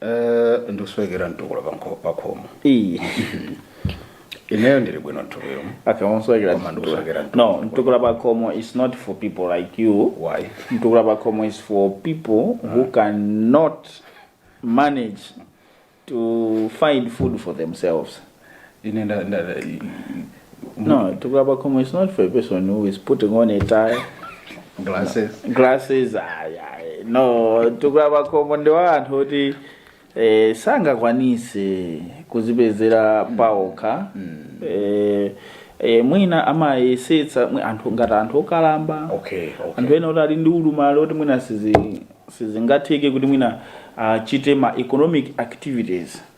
Eh, ndikuswekera mtukula pakho- pakhomo Ii. ineyo ndili bwino mtukula Okay, umuswekera Koma ndikuswekera mtukula. No, mtukula pakhomo is not for people like you. why Mtukula pakhomo is for people who cannot manage to find food for themselves. ine nda, nda, nda, No, mtukula pakhomo it's not for a person who is putting on a tie, glasses glasses, ayi, ayi. No, mtukula pakhomo ndi wa anthu oti eh, sangakwanise kuzipezera paokha. Eh, eh, mwina amayesetsa mwi- anthu ngati anthu okalamba. okay okay anthu ena oti ali ndi ulumali oti mwina sizi- sizingatheke kuti mwina achite ma economic activities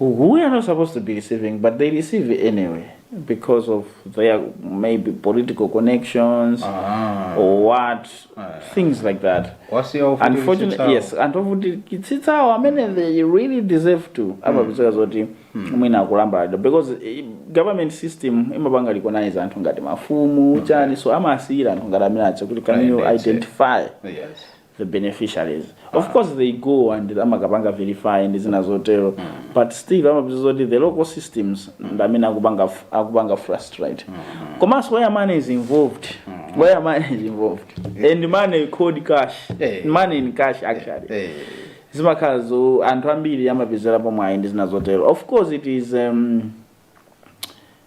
who are not supposed to be receiving but they receive anyway because of their maybe political connections Ah. or what things like that whereas unfortunately yes anthu ovutikitsitsawo amene they really deserve to amapezeka zoti mwina akulambalalidwa because eh, government system imapanga recognize anthu ngati mafumu chani so amawasiyira anthu ngati amene aja kuti can you Right, that's it. identify yes the beneficiaries of ah. course they go and amakapanga verify ndi zina zotero mm. but still amapeza zoti the local systems mm. ndi amene akupanga akupanga frustrate mm. komanso where money is involved mm. where money is involved yeah. and money cold cash hey. Eh. money in cash actually hey. Eh. Eh. zimakhala zoti anthu ambiri amapezerapo mwayi ndi zina zotero of course it is um,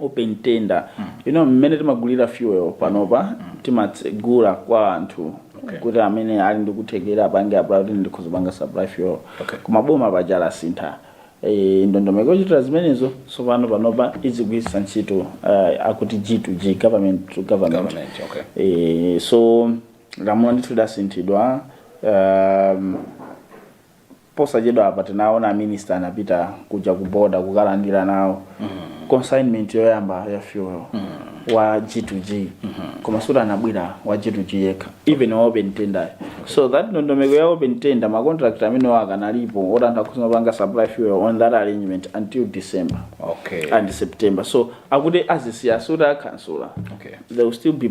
open tender you know mmene timagulira fuel panopa timatsegula kwa anthu Okay. kuti amene ali ndi kuthekera apange apply kuti ndikhoza kupanga supply fuel Okay. koma boma paja lasintha Eh, ndondomeko yochitira zimenezo tsopano panopa izigwiritsa ntchito eh, akuti g to g government to government, Government, okay. Eh, so lamulo ndithu lidasinthidwa um, Posachedwapa tinaona aminister anapita kuja ku border kukalandira nawo consignment yoyamba ya fuel wa G2G koma sikuti unabwera wa G2G yekha even wa open tender so that ndondomeko ya open tender ma contract amene akanalipo oti anthu akhoza kupanga supply fuel on that arrangement until December Okay. and September so akuti azisiya sikuti akhansula Okay. there will still be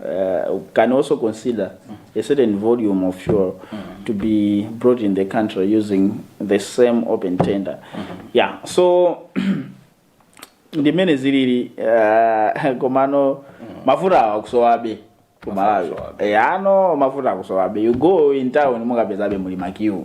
uh, can also consider a certain volume of fuel to be brought in the country using the same open tender. Yeah, so ndimene zilili uh, komano mafuta akusowabe ku Malawi. akusowabe. Eh, pano mafuta akusowabe. You go in town mukapezabe muli ma queue.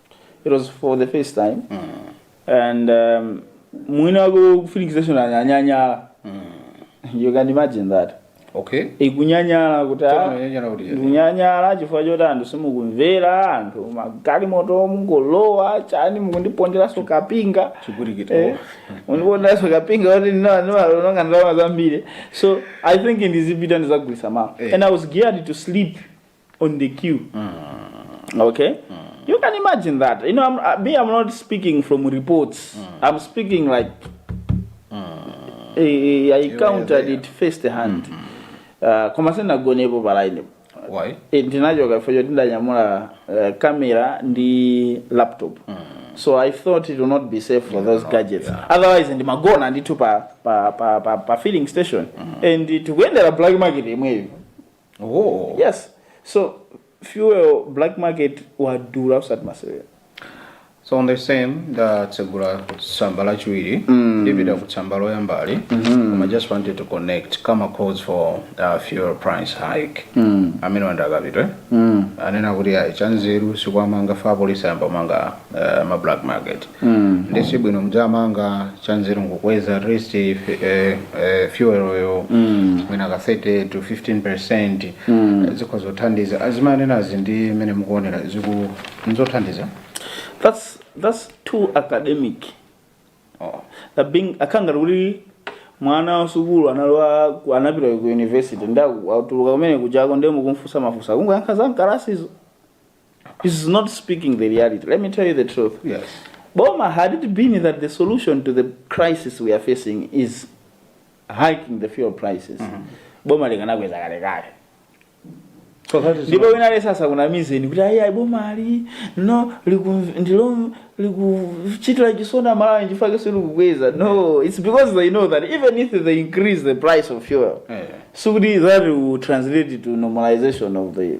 it was for the first time and um, mwini wako kufinikiza anyanyala you can imagine that okay ikunyanyala kuti ah, Tanyanyala kuti yani. ndikunyanyala chifukwa choti anthu simukumvera anthu magalimoto mukungolowa chani mukundiponderanso kapinga Chigwirigiti. Eh, mukundiponderanso kapinga kuti ndimaononga ndalama zambiri so i think ndizipita ndizagulisa mawa Eh. and i was geared to sleep on the queue okay you can imagine that you know I'm, uh, me i'm not speaking from reports i'm speaking like eh, i counted there. it first hand uh, koma sinagonepo palaine Why? Eh, ndinachoka fecho ndidanyamula uh, camera ndi laptop so i thought it will not be safe for those gadgets otherwise ndimagona ndithu pa, pa, pa, pa, pa filling station and tikuyendera black market imweyo oh. yes so fuel black market wadula usati masewera so on the same ndatsegula tsamba lachiwiri ndipita ku tsamba loyambali koma I just wanted to connect ku ma calls for uh, fuel price hike amene wandakatwiri anena kuti ayi chanzeru sikuwamanga apolisi ayamba kumanga uh, ma black market mm. nde si bwino mudzamanga chanzeru nkukweza at least eh, eh, fuel-yo mm. mwina ka 30 to 15 percent mm. zikhoza kuthandiza azimanenazi ndi mmene mukuonera ziku nzothandiza that's that's too academic oh. that being zikukhala ngati kuti mwana wa sukulu analowa ku- anapita ku university nde atuluka kumene ku Chanco ndiye mukumfunsa mafunso akungoyankha za mkalasizo is not speaking the reality. Let me tell you the truth. Yes. Boma, had it been that the solution to the crisis we are facing is hiking the fuel prices, mm -hmm. Boma likanakweza kale kale. So that is ndipo wina lesa sakunamizeni kuti ayi boma ali no ndilo likuchitira chisoni amalawi chifukwa kese likukweza no it's because they know that even if they increase the price of fuel yeah. so that will translate to normalization of the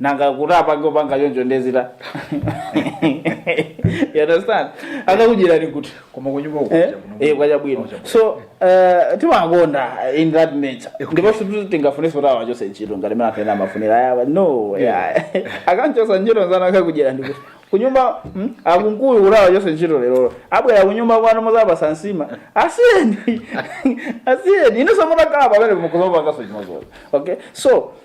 nanga kuti apange opanga choncho ndiye zita you understand akakudyerani kuti koma kunyumba uko Eh, eh, kwa chabwino so eh, timakonda in that nature ndipo sikuti tingafunenso kuti awachose ntchito ngati mene anthu ena amafunira ayawa no yeah. akamchosa ntchito nzana akakudyera ndikuti kunyumba mm, akunkuyu kuti awachose ntchito lerolo abwera kunyumba kwanu muzawapasa nsima asiyeni asiyeni inenso mutakhala pamene mukhozopangaso chimozimozi okay so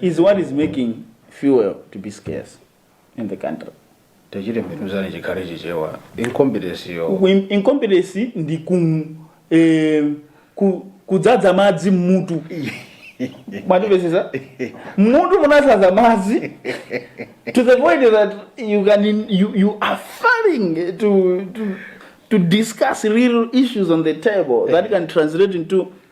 is what is making fuel to be scarce in the country tachitembenuzani chikhale chichewa incompetence yo Ku- in- incompetence ndi ku eh, ku- kudzadza madzi mmutu mwatipesesa mmutu munazaza madzi to the point that you can in, you, you are failing to, to, to discuss real issues on the table that can translate into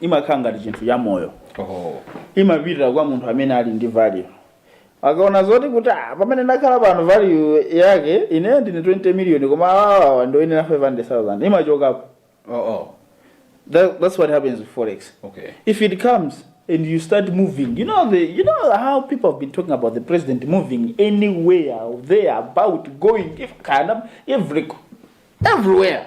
imakhala ngati chinthu cha moyo Oh. imapitira kwa munthu amene ali ndi value ikaona zoti kuti "Ah, pamene ndakhala pano value yanga ine ndine 20 million koma awawawa ndoyenera 500000 imachokapo Oh, oh. That, that's what happens with forex Okay. if it comes and you start moving you know the you know how people have been talking about the president moving anywhere there about going kind of every everywhere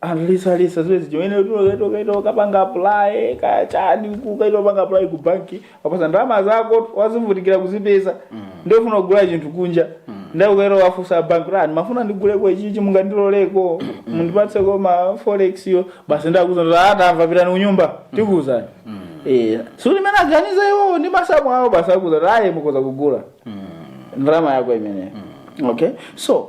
aliyense aliyense adziwe zichimene ukaito ukapanga apply kaya chani ukaito panga apply ku banki wapasa ndalama zako wazivutikira kuzipeza ndiye ufuna kugula chinthu kunja ndiye ukaito wafunsa banki ndimafuna ndigule chakuti chakuti mungandiloleko mundipatseko ma forex yo basi akuuza ndiye ati tamva pitani kunyumba tikuuzani eh so mmene aganiza iwo ndi masamu awo basi akuuza ayi mukhoza kugula ndalama yako imeneyo okay so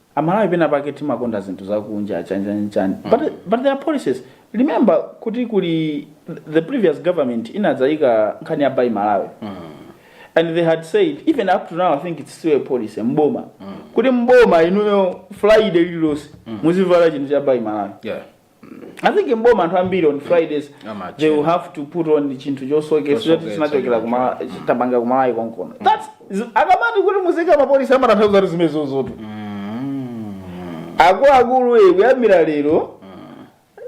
aMalawi pena pake timakonda zinthu zakunja chani chani chani mm. but, but there are policies remember kuti kuli the previous government inadzayika nkhani ya buy Malawi mm. and they had said even up to now i think it's still a policy mboma mm. kuti mboma inuyo friday lililonse mm. muzivala chinthu cha buy Malawi yeah. I think m'boma anthu ambiri on Fridays Amachera. they will have to put on chinthu chosoketsa Chosoketsa, choti chinachokera kuma tabanga kuMalawi konkono. That's z- akamati kuti muzika mapolisi amatanthauza kuti zimenezozotu. Akuluakulu e kuyambira lero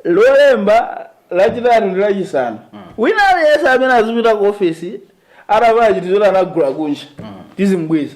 lolemba lachitatu ndi lachisanu. Wina aliyense amene azipita ku ofesi atavala chinthu choti anagula kunja tizimubweza.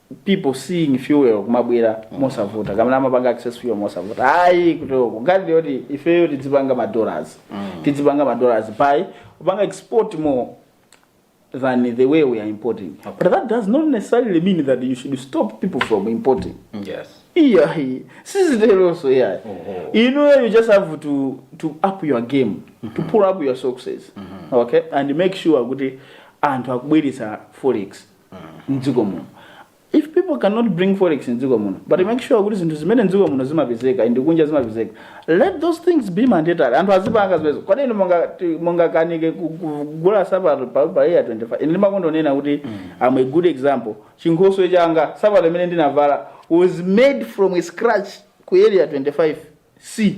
people seeing fuel kumabwera mosavuta mmene amapanga access fuel mosavuta ayi koma nkhani ndiyoti ifeyo tidzipanga ma dollars tidzipanga ma dollars by kupanga export more than the way we are importing but that does not necessarily mean that you should stop people from importing yes yeah siziteronso yeah Oh. you know you just have to to up your game to pull up your socks okay and make sure kuti anthu akubweretsa forex mdziko muno if people cannot bring forex mdziko muno but make sure kuti zinthu zimene mdziko muno zimapezeka ndi kunja zimapezeka let those things be mandatory anthu azipanga zimenezo kodi inu munga- ti- mungakanike ku- kugula sapato pa pa area 25 ine ndimakonda kunena kuti am a good example chinkhoswe changa sapato imene ndinavala was made from a scratch ku area 25 c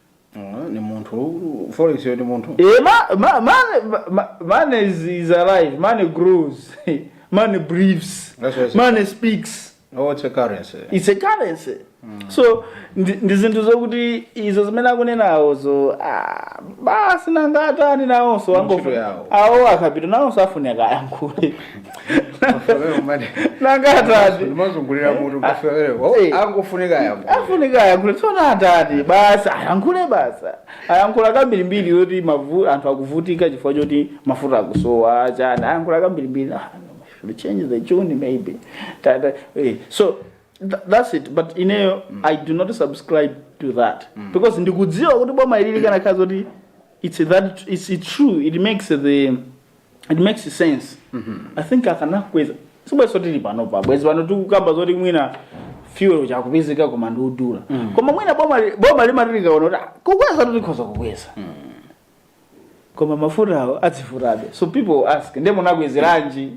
ni munthu forex yo ni munthu eh ma, ma, money, ma, money is, is alive money grows money breathes money speaks oh it's a currency it's a currency mm. so ndi zinthu zokuti izo zimene akunenawo zo ah, basi nangatani nawonso awo a Kapito nawonso afunika ayankhule nanga atati azungulira mutu mkafewerewo Eh. angofunika yambo afunika ayankhule tsona atati basi ayankhule basa ayankhula kambirimbiri yoti mavu anthu akuvutika chifukwa choti mafuta akusowa chani ayankhula kambirimbiri ah, should change the tune maybe Ta- ta- eh, so tha- that's it but ineyo i do not subscribe to that because ndikudziwa kuti boma ili likanakhala zoti it's that it's true it makes the it makes sense i think akanakweza sibwenzi tili panopa bwezi pano tikukamba zoti mwina fuel ikupezeka koma ndi yodula koma mwina boma li- boma limati likaona kuti "Ah, kukweza tikhoza kukweza koma mafutawo azivutabe so people ask nde munakwezeranji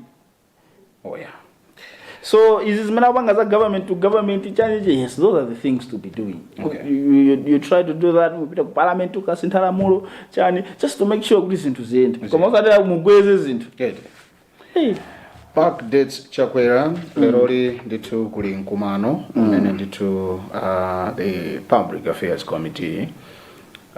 oh yeah so izi zimene akupanga za government to government change yes those are the things to be doing Okay. you, you, you try to do that kupita ku parliament ukasintha lamulo chani just to make sure kuti zinthu ziyende koma osatera mukweze zinthu Good. hey. PAC dates chakwera leroli ndithu kuli mkumano umene ndithu uh, the public affairs committee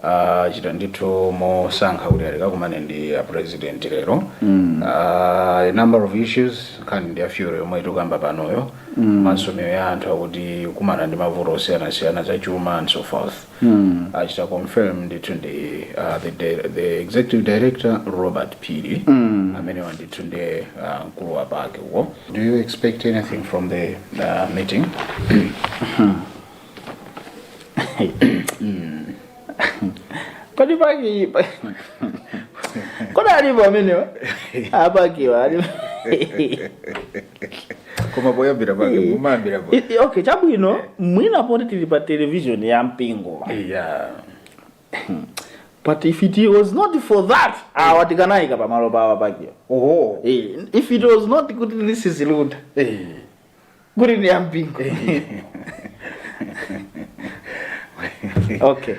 achita ndithu mosangalala kuti akakumane ndi a president lero mm. a number of issues nkhani ndi ya fuel yomwe tikukamba panoyo mm. Malawi anthu akukumana ndi mavuto osiyanasiyana za chuma and so forth mm. achita confirm ndithu ndi uh, the, di- the executive director Robert Phiri mm. amenewa ndithu ndi uh, mkulu wa PAC uyo do you expect anything from the uh, meeting Kodi PAC pa- Kodi alipo amenewa? A PAC-wa alipo. koma poyambira pake mumayambira po I- i- Okay, chabwino mwina poti tili pa television ya mpingo. yeah But if it was not for that, awa tikanawaika pamalo pawo a PAC-wa. oho Eh, if it was not kuti this is Luntha. eh kuti ndi ya mpingo okay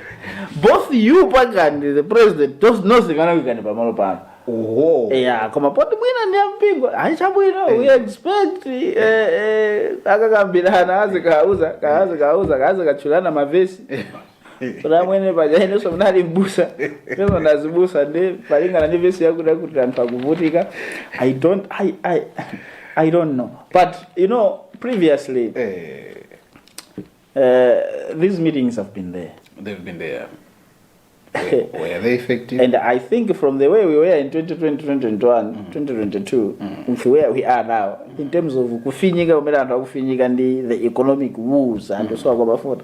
both you PAC and the president those nonse tikanakuikani pamalo pano oho yeah koma poti mwina ndi ampingo ayi chabwino we expect eh, eh, akakambirana azikauzana azikauzana azikatchulana mavesi kuti achimwene paja inenso munali mbusa inenso ndi azibusa ndiye malingana ndi vesi yakuti yakuti anthu akuvutika i don't i i i don't know but you know previously Eh, uh, these meetings have been there they've been there. Were, were they effective? and i think from the way we were in 2020 2021 2022 with where we are now in terms of kufinyika kumene anthu akufinyika ndi the economic woes anthu so akwabafota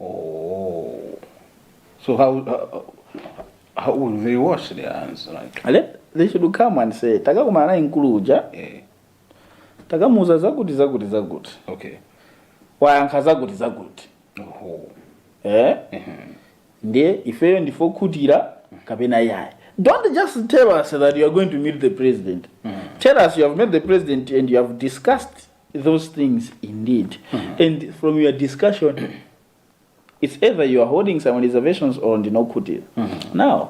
Oh. So how, how, how will they wash their hands? Like, Let, they should come and say takakumana naye mkulu uja eh, takamuuza zakuti zakuti zakuti okay. wayankha zakuti zakuti Oh. eh? ndiye ifeyo ndife okhutira kapena ayi don't just tell us that you are going to meet the president tell us you have met the president and you have discussed those things indeed. And from your discussion, it's either you are holding some reservations or ndinokhutira. Now,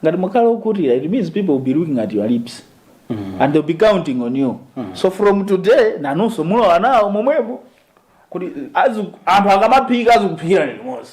ngati mukhala okhutira, it means people will be looking at your lips. And they'll be counting on you. So from today, nanunso mulowa nawo momwemo. Kuti azu- anthu akamaphika azikuphikirani limodzi.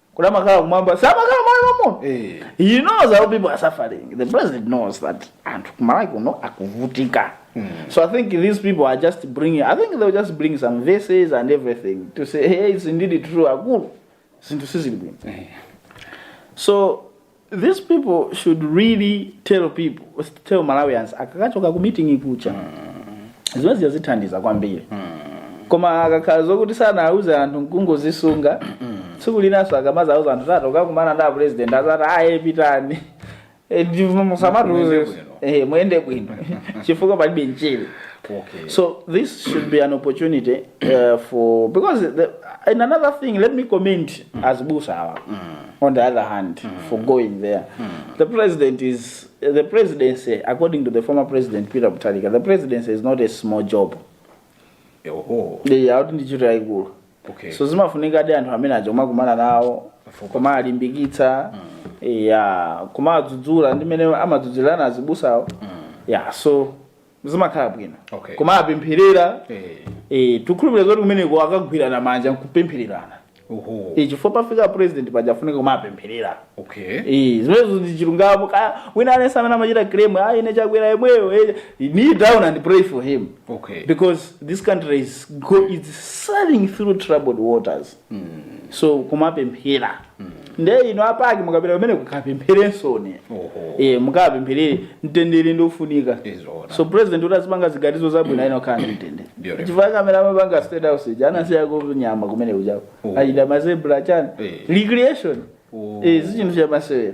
kuti amakhala kumwamba samakhala malo momo Eh. he knows how people are suffering the president knows that anthu kumalawi kuno akuvutika so i think these people are just bringing i think they'll just bring some verses and everything to say hey it's indeed true akulu zinthu sizili bwino so These people should really tell people, tell Malawians akakachoka ku meeting kuja zimenezi zithandiza kwambiri koma akakakhala zokuti sanauze anthu nkungozisunga tsiku linanso akamadzauza anthu tati tikakumane ndi apresident adzati aye pitani Eh, ndi- musamatiuze Muyende bwino. Eh, muyende bwino chifukwa palibe mchere Okay. So this should be an opportunity uh, for because the, and another thing. Let me comment azibusawa. on the other hand mm. for going there mm. the president is the presidency according to the former president peter mutharika the presidency is not a small job akuti ndi ntchito yayikulu so zimafunikadi anthu amene aja kumakumana nawo kumawalimbikitsa mm. ya kumawadzudzula mmene amadzudzulana azibusawo mm. ya so zimakhala bwino okay. kumawapempherera hey. Eh. hey, eh, tikhulupirire zoti kumeneko akagwirana manja nkupemphererana Eh, chifukwa pafika president pakufunika kumapempherera okay. Eh, zimenezo ndi chilungamo kaya wina aliyense amene amachita claim ayi ah, ine chakwera yemweyo eh, kneel down and pray for him okay. because this country is, go, is sailing through troubled waters so kumapemphera nde inu apake mukapita amene mukapempherensoni Oho. e, mukapempherere mtendere ndiofunika Nzoona. so president kuti azipanga ziganizo zabwino ayenera kukhala ndi mtendere Beautiful. chifukwa amene amapanga state house ija anasiya konyama kumene kujako Oh. aja mazebra chani Eh. recreation Oh. e, sichinthu chamasewera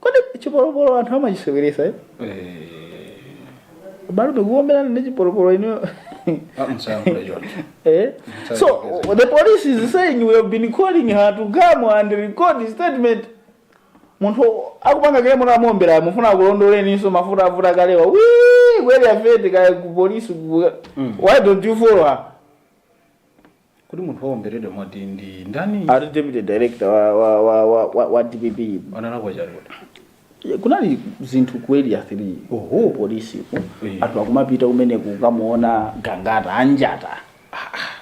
kodi chipolopolo anthu amachiseweretsa eh? bado ndikuombelana ndi chipolopolo ino eh? so the police is saying we have been calling her to come and record statement munthu akupanga kill munthu amuombera mufuna akulondoleninso mafuta avuta kalewa akweli apite kaya ku polisi ku- why don't you follow her Kodi munthu waomberedwa mwati ndi ndani? ati deputy director wa, wa, wa, wa, wa, wa dpp Analakwa chani kuti? kunali zinthu ku area 3 Oho. polisi ku Eh. anthu akumapita kumene kukamuona gangata anjata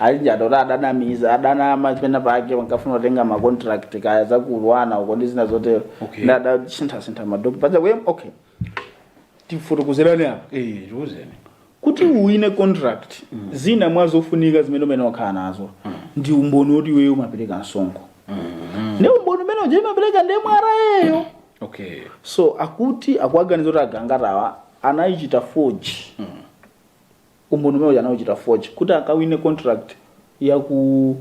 anjata kuti adanamiza adanama pena pake ankafuna kutenga ma contract kaya zakulowana uko ndi zina zotero Okay. ndi adasinthasintha ma document paja kuye okay tifotokozerani apa Eh, tiuzeni. Kuti uwine contract zina mwa zofunika zimene umayenera okhala nazo ndi umboni woti iweyo umapereka msonkho. Nde umboni umene uja imapereka ndi MRA yo. Okay. So akuti akuwaganiza kuti aGangatawa anaichita forge. Umboni umene uja anauchita forge kuti akawine contract ya ku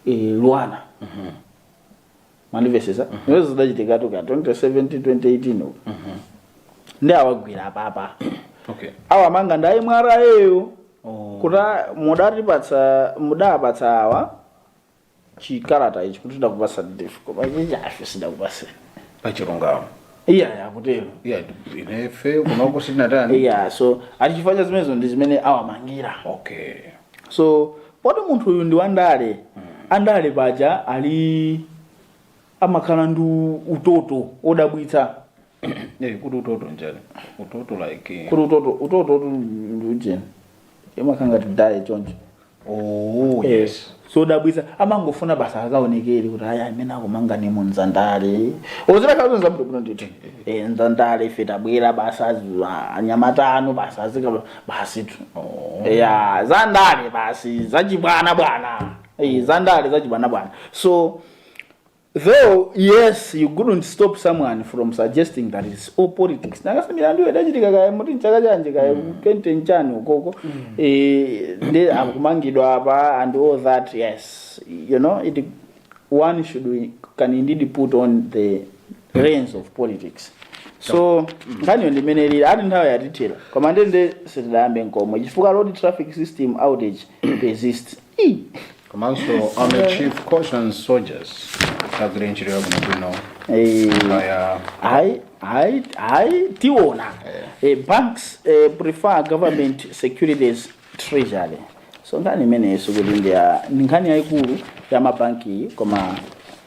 eh, LUANAR. mwandimvetsetsa izo zidachitikatu ka 2017 2018 uko nde awagwira apapa okay awamanga ndi a MRA yo oh kuti mudatipatsa mudapatsa awa chikalata ichi kuti tidakupatsa ndife koma ichi ife sitidakupatse pachilungamo iyaya akutero yeah ife kunoko sitinatani iya so nchifukwa zimenezo ndi zimene awamangira okay so Poti munthu uyu ndi wandale, andale paja ali amakhala ndi utoto wodabwitsa. Eh, kuti utoto njani? Utoto like Kuti utoto utototu ndi ujeni. Imakhala ngati daye choncho. oh yes. Zodabwitsa amangofuna basi akaonekere kuti aya amene akumanganiramo nzandale zolakwazo nzabwino ndithu Eh, nzandale ife tabwera basi azi- a- anyamata anu basi azika basitu oh. ya za ndale basi zachibwanabwana Eh, za ndale zachibwanabwana so though yes you couldn't stop someone from suggesting that it's all politics nanga si milandu yake idachitika kaya mwati m'chaka chanji kaya twenty chani ukoko Eh, nde akumangidwa apa and all that yes you know it one should can indeed put on the lens of politics so nkhaniyo ndi mmene ilili koma nthawi yatithera koma ndiye sitidayambe nkomwe chifukwa road traffic system outage persists Ih. komanso army chief cautions soldiers agwire ntchito yabwinobwino Eh, kaya I, I, I, tiona. Eh, banks eh, prefer government securities treasury. So nkhani imeneyo kuti ndi ya ndi nkhani yayikulu ya mabanki koma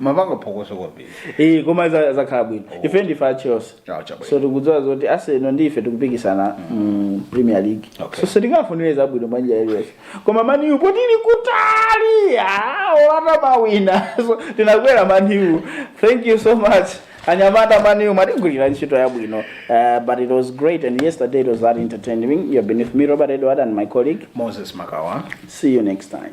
mapanga phokoso kwambiri Eh, koma za- zakhala bwino ife ndife a chelsea Ah, chabwino. so tikudziwa zoti arsenal ndi ife tikupikisana mu premier league Okay. so sitingafunire zabwino Man U aliyonse koma maniyu poti ili kutali ah, ola atamawina so tinakwera maniyu thank you so much anyamata maniyu mwatigwirira ntchito yabwino uh, but it was great and yesterday it was that entertaining you have been with me robert edward and my colleague moses makawa see you next time